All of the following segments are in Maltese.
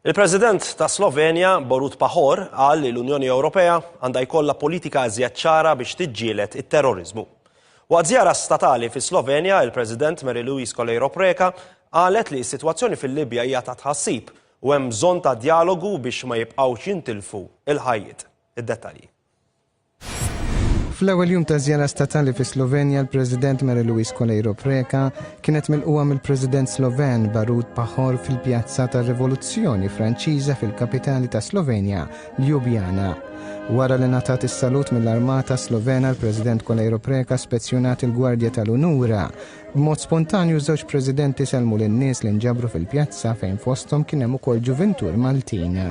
Il-President tas-Slovenja, Borut Pahor, qal li l-Unjoni Ewropea għandha jkollha politika iżjed ċara biex tiġġieled it-terroriżmu. Waqt żjara statali fis-Slovenja, il-President Mary Louise Coleiro Preca qalet li s-sitwazzjoni fil-Libja hija ta' tħassib u hemm bżonn ta' djalogu biex ma jibqgħux jintilfu l-ħajjiet. Id-dettalji. Fl-ewwel jum ta' żjara statali fi Slovenja, l-President Mary Louise Coleiro Preca kienet milquha mill-President Sloven Barut Pahor fil-Pjazza tar-Rivoluzzjoni Franċiża fil-kapitali ta' Slovenja, Ljubljana. Wara li ngħatat is-salut mill-Armata Slovena, l-President Coleiro Preca spezzjonat il-Gwardja tal-Unura. B'mod spontanju żewġ Presidenti sellmu lin-nies li nġabru fil-pjazza fejn fosthom kien hemm ukoll ġuvintur Maltin.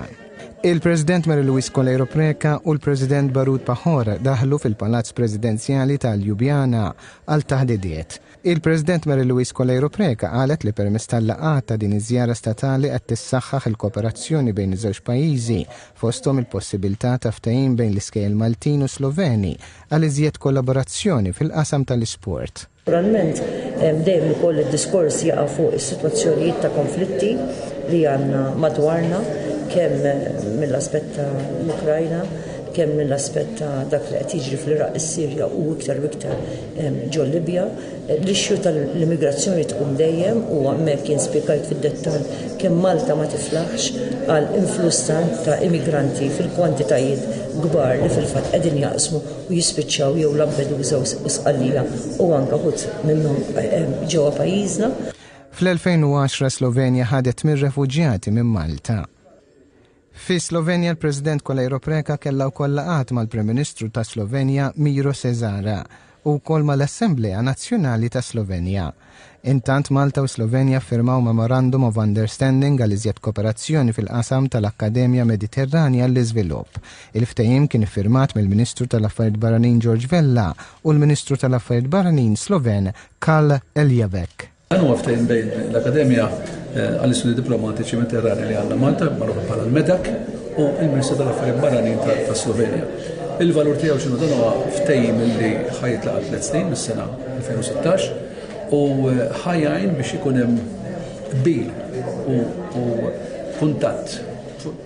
Il-President Mary Louise Coleiro Preca u l-President Barut Pahor daħlu fil-Palazz Presidenzjali ta' Ljubljana għal taħdidiet. Il-President Mary Louise Coleiro Preca qalet li permezz tal-laqgħat ta' din iż-żjara statali qed tissaħħaħ il-kooperazzjoni bejn iż-żewġ pajjiżi fosthom il-possibilità ta' ftehim bejn l-iskejjel Maltin u Sloveni għal iżjed kollaborazzjoni fil-qasam tal-isport. Naturalment, dejjem ukoll id-diskors jaqa' fuq is-sitwazzjonijiet ta' konflitti li għandna madwarna, kemm mill-aspett ta' l-Ukrajna, kemm mill-aspett ta' dak li qed jiġri fl-Iraq, is-Sirja u iktar u iktar ġol Libja. L-issue tal-immigrazzjoni tqum dejjem u hemmhekk jien spjegajt fid-dettall kemm Malta ma tiflaħx għal influss ta' immigranti fil-kwantitajiet kbar li fil-fatt qegħdin jaqsmu u jispiċċaw jew Lampedusa u Sqallija u anke uħud minnhom ġewwa pajjiżna. Fl-2010 Slovenja ħadet minn refuġjati minn Malta. Fi Slovenja l-President Kolejro Preka kellha wkoll laqgħat mal-Prim Ministru ta' Slovenja Miro Cesara u wkoll mal-Assemblea Nazzjonali ta' Slovenja. Intant Malta u Slovenja ffirmaw Memorandum of Understanding għal iżjed kooperazzjoni fil-qasam tal-Akkademja Mediterranja għall-Iżvilupp. Il-ftehim kien iffirmat mill-Ministru tal-Affarijiet Barranin George Vella u l-Ministru tal-Affarijiet Barranin Sloven Karl Erjavec. Dan huwa ftehim bejn l-Akkademja Eh, għal-istudji diplomatiċi veterani li għandna Malta, magħrufa bħala l-MEDAK, u il-Ministru tal-Affarijiet Barranin ta' Slovenja. Il-valur tiegħu xinu dan huwa ftejim li ħajt laqgħa tliet snin mis-sena 2016 u eh, ħajajn biex ikun hemm bil u kuntatt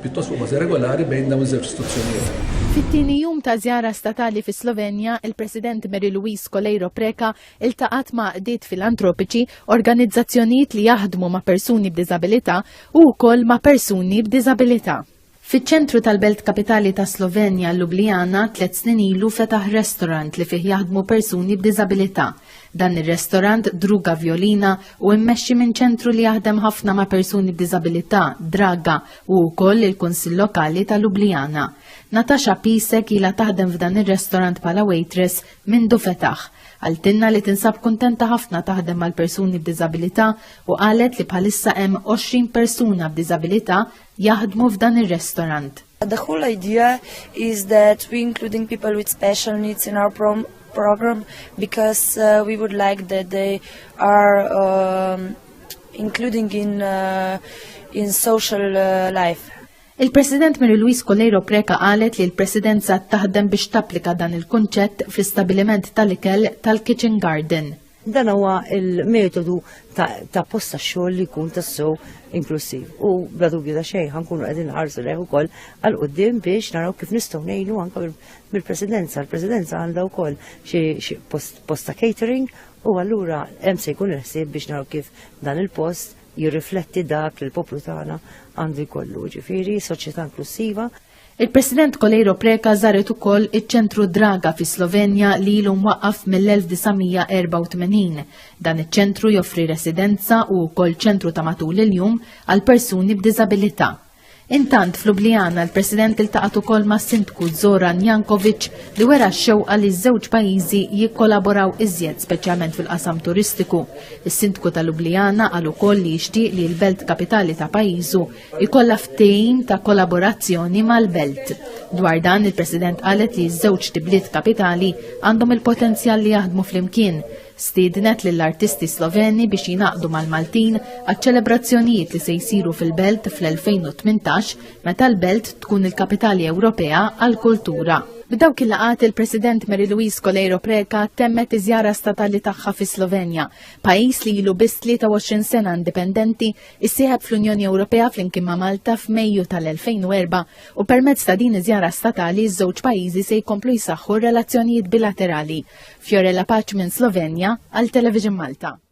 pjuttost fuq bażi regolari bejn dawn iż-żewġ istituzzjonijiet. Fit-tieni jum ta' żjara statali fi Slovenja, il-President Mary Louise Coleiro Preca iltaqgħet ma' għaqdiet filantropiċi, organizzazzjonijiet li jaħdmu ma' persuni b'diżabilità u wkoll ma' persuni b'diżabilità. Fiċ-ċentru tal-belt kapitali ta' Slovenja, Ljubljana, tliet snin ilu fetaħ restorant li fih jaħdmu persuni b'diżabilità. Dan ir-restorant Druga Violina u mmexxi minn ċentru li jaħdem ħafna ma' persuni b'diżabilità, Draga, u wkoll il-Kunsill Lokali ta' Ljubljana. Natasha Pisek ilha taħdem f'dan ir-restorant bħala waitress Mindu fetaħ, qaltilna li tinsab kuntenta ħafna taħdem mal-persuni b'diżabilità u qalet li bħalissa hemm 20 persuna b'diżabilità jaħdmu f'dan ir-restorant. The whole idea is that we including people with special needs in our prom program because uh, we would like that they are um, including in uh, in social uh, life. Il-President Mary Louise Coleiro Preca qalet li l-Presidenza taħdem biex tapplika dan il-kunċett fl-istabiliment tal-ikel tal-Kitchen Garden. Dan huwa il-metodu ta' posta xogħol li jkun tassew inklusiv. U bla dubju ta' xejn ħankunu qegħdin ħarsu lejh ukoll għal qudiem biex naraw kif nistgħu ngħinu anke mill-Presidenza. Il-Presidenza għandha wkoll xi posta catering u allura hemm se jkun il-ħsieb biex naraw kif dan il-post jirrifletti dak li l-poplu tagħna għandu jkollu, ġifieri soċjetà inklussiva Il-President Kolejro Preka żaret ukoll iċ-ċentru Draga fi Slovenja li ilu mwaqqaf mill-1984. Dan iċ-ċentru joffri residenza u wkoll ċentru ta' matul il-jum għal persuni b'diżabilità. Intant f'Lubljana l-President iltaqgħet ukoll mas-Sindku Zoran Jankovic li wera x-xewqa li ż-żewġ pajjiżi jikkolaboraw iżjed speċjalment fil-qasam turistiku. Is-Sindku ta' Lubljana qal ukoll li jixtieq li l-Belt Kapitali ta' pajjiżu jkollha ftehim ta' kollaborazzjoni mal-Belt. Dwar dan il-President qalet li ż-żewġ tibliet kapitali għandhom il-potenzjal li jaħdmu flimkien Stiednet lill-artisti Sloveni biex jingħaqdu mal-Maltin għaċ-ċelebrazzjonijiet li se jsiru fil-Belt fl-2018 meta l-Belt tkun il-Kapitali Ewropea għall-Kultura. B'dawk il-laqgħat il-President Mary Louise Coleiro Preca temmet iż-żjara statali tagħha fis-Slovenja, pajjiż li ilu biss 23 sena indipendenti issieħeb fl-Unjoni Ewropea flimkien ma' Malta f'Mejju tal-2004 u permezz ta' din iż-żjara statali ż-żewġ pajjiżi se jkomplu jsaħħu r-relazzjonijiet bilaterali. Fiorella Paċ minn Slovenja għal Television Malta.